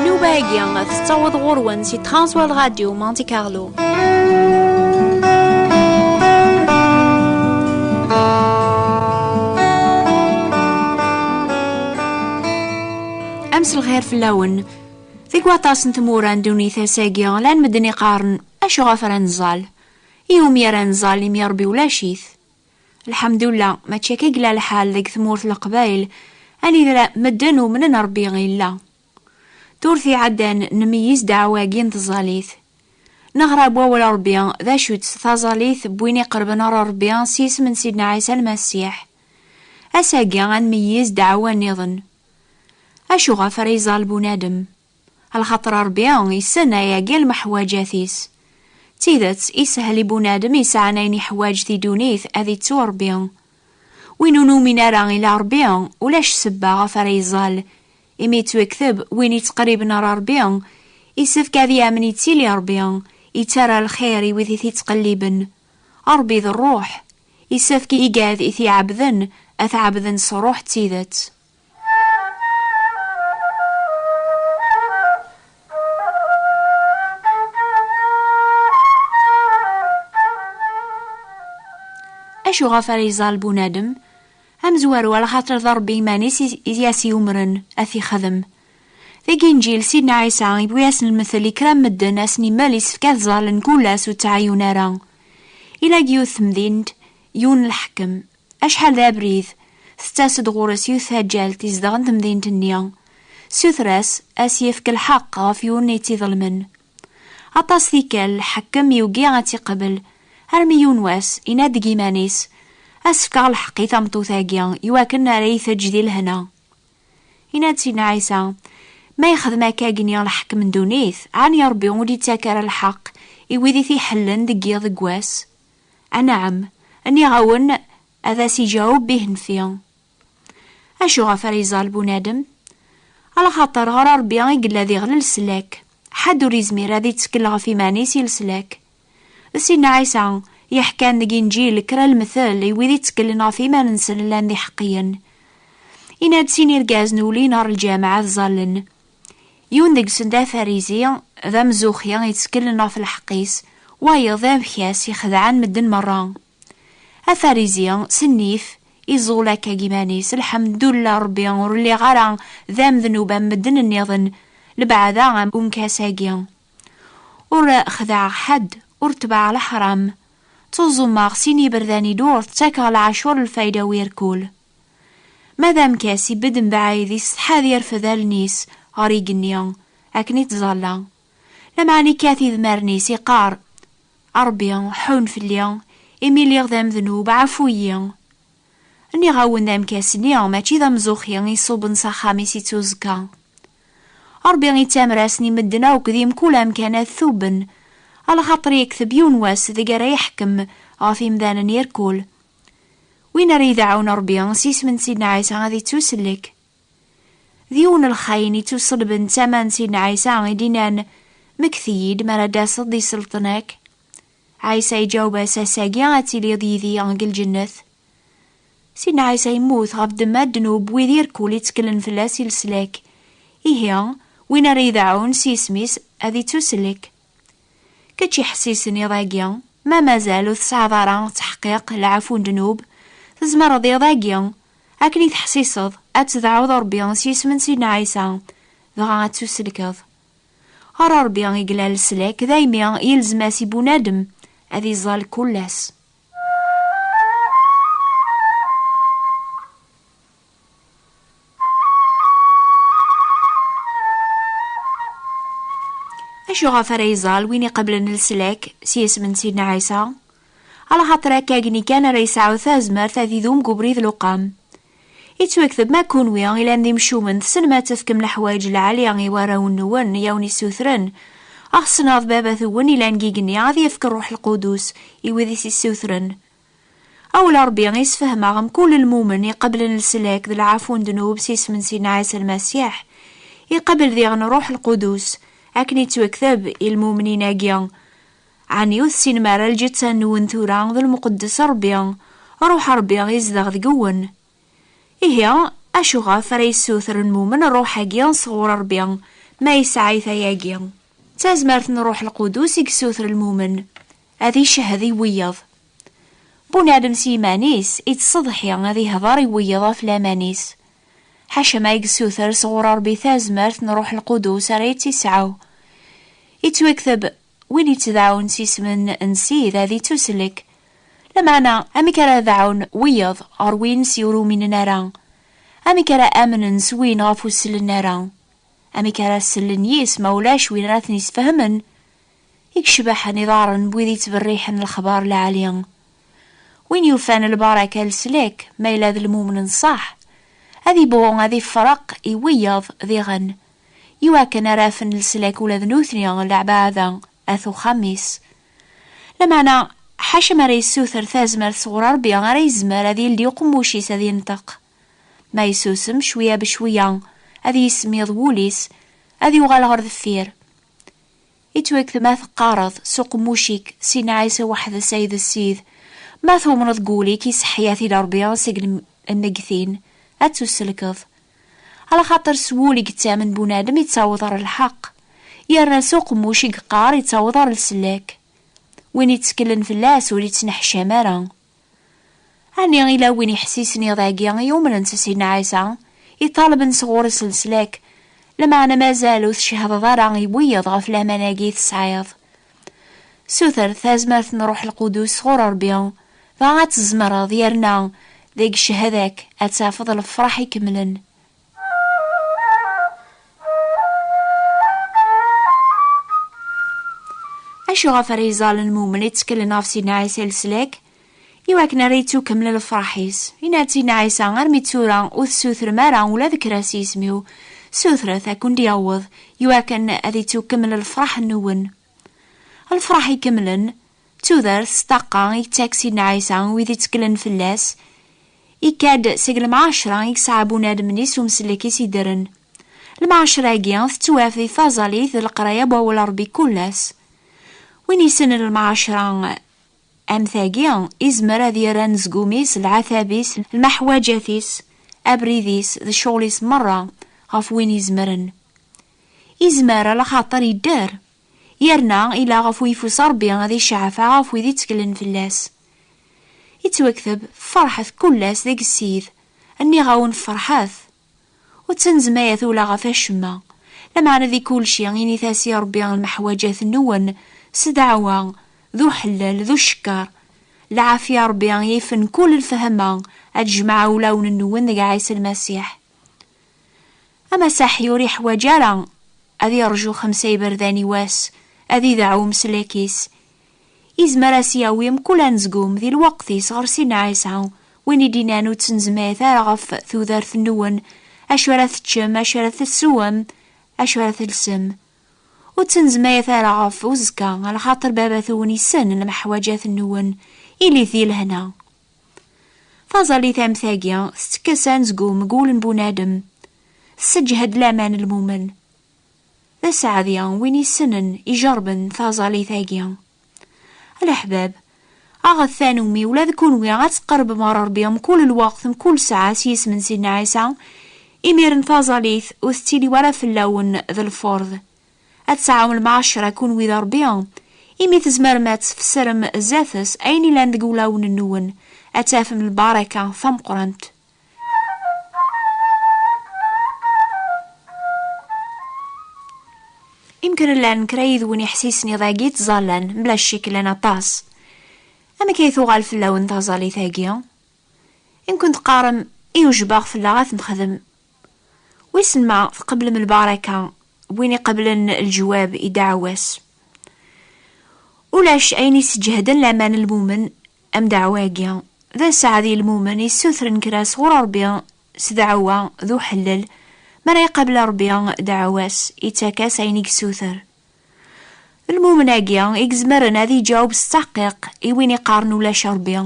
Nnuba-agi tettaweḍ ɣur-wen si Transworld Radio Monte Carlo. Amsel xir fell-awen. Deg waṭas n tmura n dunit ass-agi, lan medden iqaren acuɣef ara nẓal. Iwumi ara nẓal imi Ṛebbi ulac-it? Lḥamdullah, mačči akka i yella lḥal deg tmurt n Leqbayel, anida medden umnen Rebbi illa. Turrt iɛeddan nmeyyiz ddeɛwa-agi n tẓallit. Neɣra deg wawal n Rebbi d acu-tt taẓallit n win iqerben ɣer Rebbi s yisem n Sidna Ɛisa Lmasiḥ. Ass-agi ad nmeyyiz ddeɛwa nniḍen. Acu ɣef ara iẓall bunadem? Lxaṭer Ṛebbi issen ayagi lmeḥwaǧat-is. D tidet, ishel i bunadem yesɛan ayen iḥwaǧ di dunit ad ittu Ṛebbi. Win ur numin ara ila Ṛebbi, ulac ssebba ɣef ara iẓall. Imi yettwekteb, win yettqerriben ɣer Ṛebbi, isefk ad yamen yettili Ṛebbi, yettarra lxir i wid i t-ittqelliben. Ṛebbi d Ṛṛuḥ. Isefk i igad i t-iɛebden, ad t-ɛebden s ṛṛuḥ d tidet. acu ɣef ara iẓal bunadem amezwaru ala xaṭer d ṛebbi iman-is i as-yumren ad t-ixdem deg inǧil sidna ɛisa yewwi-asen lmethel i kra n medden asen imal yessefk ad ẓalen kul ass ur ttɛayun ara ila yiwet temdint yiwen lḥekem Acḥal d abrid, tettas-d ɣur-s yiwet taǧǧalt izedɣen temdint-nni, tessuter-as ad s-yefk lḥeqq ɣef yiwen n itt-iḍelmen. Aṭas tikkal, lḥakem yugi ad tt-iqbel, armi yiwen wass, yenna-d deg yiman-is, Ad s-fkeɣ lḥeqq i tameṭṭut-agi, i wakken ara iyi-teǧǧ di lehna. Yenna-d Sidna Ɛisa, Ma yexdem akka-agi niɣ lḥakem n ddunit, ɛni Ṛebbi ur d-yettak ara lḥeqq i wid i t-iḥellen deg yiḍ deg wass? Anɛam, nniɣ-awen, ad as-iǧǧeɣ ubbih-nfi. Acu ɣef ara iẓall bunadem? Alxaṭer ɣer Ṛebbi i yella d iɣel leslak, ḥedd ur yezmir ad ittekkel ɣef iman-is i leslak. D Sidna Ɛisa i yeḥkan deg Inǧil kra lemtel i wid ittekklen ɣef iman-nsen llan d iḥeqqiyen. Yenna-d sin irgazen ulin ɣer lǧameɛ ad ẓallen. Yiwen deg-sen d afarizi, d amzuxi, yettkellen ɣef lḥeqq-is, wayeḍ d abkas, ixdeɛen medden merra. Afarizi, s nnif, iẓul akka deg iman-is, Lḥemdullah a Rebbi, ur lliɣ ara d amednub am medden nniḍen, lebɛada am umkas-agi. Ur xdeɛeɣ ḥedd, ur ttebɛeɣ leḥram. Ttuẓumeɣ sin yiberdan-inu, ttakeɣ lɛacur lfayda u irkul. Ma d amkas, ibedd mebɛid isetḥa ad irfed allen-is ɣer igenni akken ittẓalla, lameɛna ikkat idmaren-is iqqar, A Rebbi, ḥunn fell-i, imi lliɣ d amednub, ɛfu-yi! Nniɣ-awen-d amkas-nni mačči d amzuxxi i iṣubben s axxam-is i tuẓekka. Rebbi ittamer-asen i medden akk di mkul amkan ad t-ubben, a lxaṭer yekteb yiwen wass deg ara iḥekkem ɣef imdanen irkul, Win ara yi-d-iɛawen Ṛebbi s yisem n Sidna Ɛisa ad ittusellek. D yiwen n lxayen ittuṣelben d tama n Sidna Ɛisa i d-innan, Mmekti-yi-d mi ara d-taseḍ d iselṭen-ak. Ɛisa iǧaweb-as, Ass-agi ad tiliḍ yid-i deg lǧennet. Sidna Ɛisa yemmut ɣef ddemma ddnub wid irkul itteklen fell-as i leslak. Ihi, win ara yi-d-iɛawen s yisem-is ad ittusellek. Kečč iḥessisen iḍ-agi, ma mazal ur tesɛiḍ ara ttḥeqqiq lɛafu n ddnub, tzemreḍ iḍ-agi, akken i teḥsiseḍ, ad tedɛuḍ Rebbi s yisem n Sidna Ɛisa, dɣa ad tusellkeḍ. Ɣer Rebbi i yella leslak, daymi yelzem-as i bunadem ad iẓẓal kul ass. acu ɣef ara yeẓal win iqeblen leslak s yisem n Sidna Ɛisa? Ala xaṭer akka agni kan ara yesɛu tazmert ad idum deg ubrid luqam. Yettwakteb ma kunwi i lan d imcumen tessnem ad tefkem leḥwayeǧ lɛali i warraw-nwen i awen-issutren, a ɣ-tessneḍ Baba-twen i lan gigenni ad yefk Rruḥ Lqudus i wid i s-issutren. Awel Ṛebbi i sfehmeɣ mkul lmumen iqeblen leslak d lɛafu n ddnub s isem n Sidna Ɛisa Lmasiḥ, iqabel diɣen Rruḥ Lqudus, akken yettwakteb i lmumnin-agi, Ɛni ur tessinem ara lǧetta-nwen tura d lmuqeddes Ṛebbi, Ṛuḥ Ṛebbi izdeɣ deg-wen? Ihi, acu ɣef ara yessuter lmumen Ṛṛuḥ-agi sɣur Ṛebbi, ma yesɛa-it ayagi? D tazmert n Ṛṛuḥ Lqudus i yessuter lmumen, ad icehhed i wiyeḍ. Bunadem s yiman-is ittseḍḥi ad ihdeṛ i wiyeḍ ɣef laman-is. Ḥaca ma yessuter sɣur Ṛebbi tazmert n Ṛṛuḥ Lqudus ara yettisɛu. Ittwikteb Win ittdaɛun s isem n Sid ad ittuslek. Lameɛna, amek ara daɛun wiyeḍ ɣer win s ur uminen ara? Amek ara amnen s win ɣef ur sellen ara? Amek ara sellen yis ma ulac win ara ten-isfehmen? I yecbaḥen iḍarren n wid yettberriḥen lexbar lɛali! Win yufan lbaraka n leslak, ma yella d lmumen n ṣṣeḥ, ad ibɣu ad ifreq i wiyeḍ diɣen i wakken ara afen leslak ula d nutni, leɛbaɛda, at uxxam-is. Lameɛna, ḥaca mi ara yessuter tazmert sɣur Rebbi ara yezmer ad yeldi uqemmuc-is ad yenṭeq. Ma yessusem, cwiya becwiya ad yismiḍ wul-is, ad yuɣal ɣer deffir. Ittwaked ma teqqareḍ s uqemmuc-ik, Sina Ɛisa weḥd-s ay d Ssid, ma tumneḍ deg wul-ik, iseḥḥi ad t-id Rebbi seg lmeggtin, ad tusellkeḍ. Ala xaṭer s wul i yettamen bunadem yettaweḍ ɣer lḥeqq, yerna s uqemmuc i yeqqar yettaweḍ ɣer leslak. Win yetteklen fell-as ur yettneḥcam ara. Ɛni ila win yeḥsisen iḍ agi i yumnen s Sidna Ɛisa, iṭalben s ɣur-s leslak, lameɛna mazal ur tcehdeḍ ara i wiyaḍ ɣef laman-agi i tesɛiḍ, Suter tazmert n Ruḥ Lqudus sɣur Ṛebbi, dɣa ad tzemreḍ yerna deg cchada-k ad tafeḍ lefṛaḥ ikemlen. Acu ɣef ara iẓallen mumel i tteklen ɣef Sidna Ɛisa Leslak? I wakken ara yettukeml lefraḥ-is, yenna-tt i Nna Ɛisa, armi d tura ur tessutrem ara ula d kra s yisem-iw, sutret ad kent-d-yaweḍ, i wakken ad yettukeml lefraḥ-nwen. Lefraḥ ikemlen, d tudert s ṭṭaqqa i yettak Sidna Ɛisa i wid itteklen fell-as, ikka-d seg lemɛacra i yesɛa bunadem-nni s umsellek-is iddren. Lemɛacra-agi tettwaf di taẓalit d leqraya n Wawal Rebbi kul ass. Win yessnen lemɛacra, Am tagi, izmer ad yerr anezgum-is, lɛatab-is, lmeḥwaǧat-is, abrid-is d ccɣel-is merra ɣef win izemren. Izmer ala xaṭer yedder, yerna ila ɣef uyeffus Rebbi ad iceɛɛef ɣef wid itteklen fell-as. Ittwakteb, Ferḥet kullas deg Ssid, nniɣ-awen ferḥet! Ur ttnezmayet ula ɣef acemma. Lameɛna di kulci, init-as i Ṛebbi lmeḥwaǧat-nwen s ddeɛwa, d uḥellel, d ucekker. Lɛafya n Ṛebbi yifen kul lefhama, ad d-jemɛeɣ ulawen-nwen deg Ɛisa Lmasiḥ. Amasaḥi ur iḥwaǧ ara ad iṛju xemsa iberdan i wass, ad ideɛɛu umeslak-is, Izmer a s-yawi mkul anezgum di lweqt-is ɣer Sidna Ɛisa, win i d-inan ur ttnezmayet ara ɣef tudert-nwen, acu ara teččem, acu ara teswem, acu ara telsem. Ur ttnezmayet ara ɣef uzekka, lxaṭer Baba-twen issen lemeḥwaǧat-nwen, ilit di lehna. Taẓallit am tagi, tettekkes anezgum deg wul n bunadem, tesseǧhed laman n lmumen. D aseɛdi win isenen ijerben taẓalit-agi. A leḥbab, aɣet tanumi ula d kunwi ad tqerbem ɣer Rebbi mkul lweqt, mkul ssaɛa s yisem n Sidna Ɛisa, imiren taẓalit ur tettili wara fell-awen d lfurḍ. Ad tesɛum lmeɛcra kunwi d Rebbi, imi tzemrem ad tfessrem zdat-s ayen yellan deg wulawen-nwen, ad tafem lbaraka tameqqrant. Imkren llan kra yid-wen iḥsisen iḍ-agi ttẓallan mla ccik llan aṭas. Amek ay tuɣal fell-awen taẓallit-agi? Imkun teqqarem i ujbaɣ fell-aɣ ad t-nexdem. Wissen ma tqeblem lbaraka n win iqeblen lejwab i ddeɛwa-s. Ulac ayen yesǧehden laman n lmumen Amdeɛwa-agi, d aseɛd i lmumen yessutren kra sɣur Ṛebbi s deɛwa d uḥellel, mi ara iqabel Ṛebbi deɛwa-s, ittak-as ayen i yessuter. D lmumen-agi i izemren ad iǧaweb s ttaḥqiq i win iqqaren ulac Ṛebbi.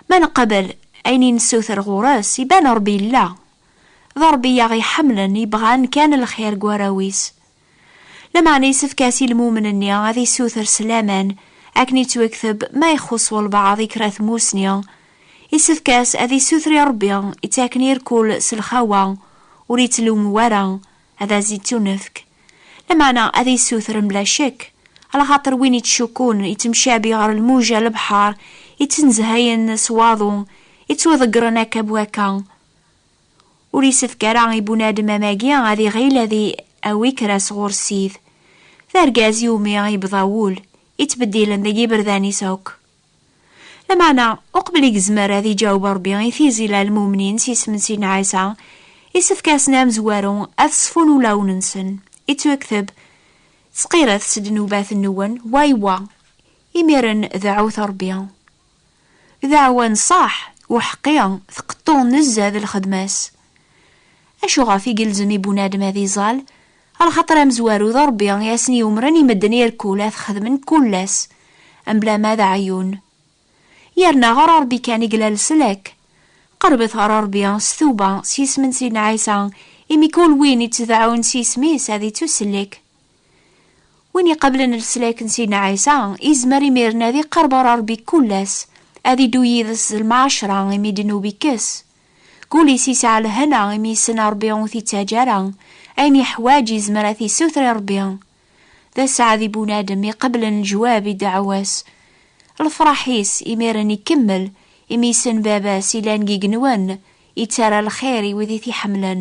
Ma neqbel ayen i nessuter ɣur-s, iban Ṛebbi yella. D Ṛebbi i aɣ-iḥemmlen, yebɣan kan lxir deg warraw-is. Lameɛna yessefk-as i lmumen-nni ad yessuter s laman, akken yettwekteb ma ixuṣ walbaɛḍ i kra tmusni, yessefk-as ad yessuter i Rebbi ittaken i rkul s lxawa, ur yettlummu wara, ad as-ittunefk. Lameɛna ad yessuter mebla ccekk, alaxaṭer win ittcukkun ittemcabi ɣer lmuja n lebḥer ittnezhayen s waḍu, ittwaḍeggren akka b wakka. Ur yessefk ara i bunadem amagi ad iɣil ad i-awi kra sɣur Ssid. D argaz i wumi i yebḍa wul, ittbeddilen deg yiberdan-is akk. Lameɛna, uqbel i yezmer ad iǧaweb Rebbi i tizi la lmumnin s yisem n Sidna Ɛisa, issefk-asen amezwaru ad ṣfun ulawen-nsen, ittwekteb, Ttqiret s ddnubat-nwen, wa i wa. Imiren, deɛɛut Rebbi. D aɛwan ṣaḥ, uḥeqqi tqeṭṭu nezzeh d lxedma-s. Acu ɣef i gelzem i bunadem ad iẓall? Lxaṭer amezwaru d Ṛebbi i asen-yumren i medden irkul ad t-xedmen kul ass, mebla ma d aɛeyyun. Yerna ɣer Ṛebbi kan i yella leslak. Qeṛbet ɣer Ṛebbi s tuba s yisem n Sidna Ɛisa, imi kul win ittdeɛɛun s yisem-is ad ittussellek. Win iqablen leslak n Sidna Ɛisa, izmer imiren ad iqerb ɣer Rebbi kul ass, ad iddu yid-s d lmaɛacra imi ddnub ikkes. Kul-is isɛa lehna imi yessen Rebbi ur t-ittaǧǧa ara, ayen yeḥwaǧ izmer ad t-issuter i Rebbi. D asaɛd i bunadem iqablen leǧwab i ddeɛwa-s. Lefraḥ-is imiren ikemmel imi yessen Baba-s ilan deg igenwan, ittarra lxir i wid i t-iḥemmlen.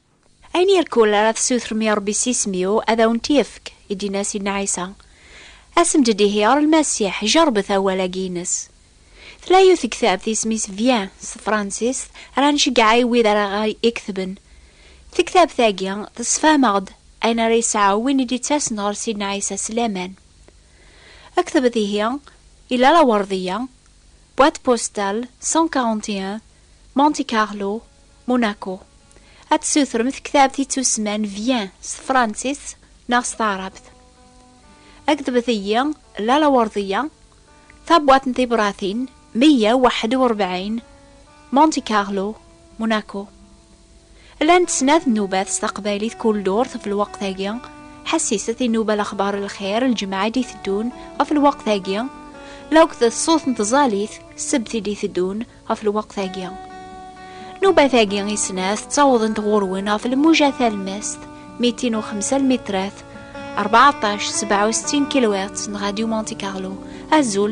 Ayen irkul ara tessutrem i Ṛebbi s isem-iw, ad awen-t-yefk, i d-yenna Sidna Ɛisa. Asem-d-d ihi ɣer Lmasiḥ, jeṛṛbet awal-agi-ines. Tella yiwet n tektabt isem-is Vien s tefransist ara nceggeɛ i wid ara ɣ-iketben. Tektabt-agi tessefham-aɣ-d ayen ara yesɛu win i d-ittasen ɣer Sidna Ɛisa s laman. Ktbet ihi i Lalla Werdiya, boîte postale 141, Monte Carlo, Monaco. Ad tessutrem tektabt i tusman Vien s tefransist neɣ s taɛrabt. Ad kdbet-iyi Lala Werdiya, tabwaṭ n tibratin meyya u waḥed u rebɛin, Monte Carlo, Monaco. Llant snat nnubat s taqbaylit kul ddurt ɣef lweqt-agi, ḥassiset inuba lexbar lxir lǧemɛa i d-iteddun ɣef lweqt-agi, lewqt d ṣṣut n tẓalit ssebt i d-iteddun, ɣef lweqt-agi. Nubat-agi i snat ttawḍent ɣur-wen ɣef lmuja talmast, mitin u xemsa lmitrat, 14 67 kilohertz n Radio Monte Carlo. Azul!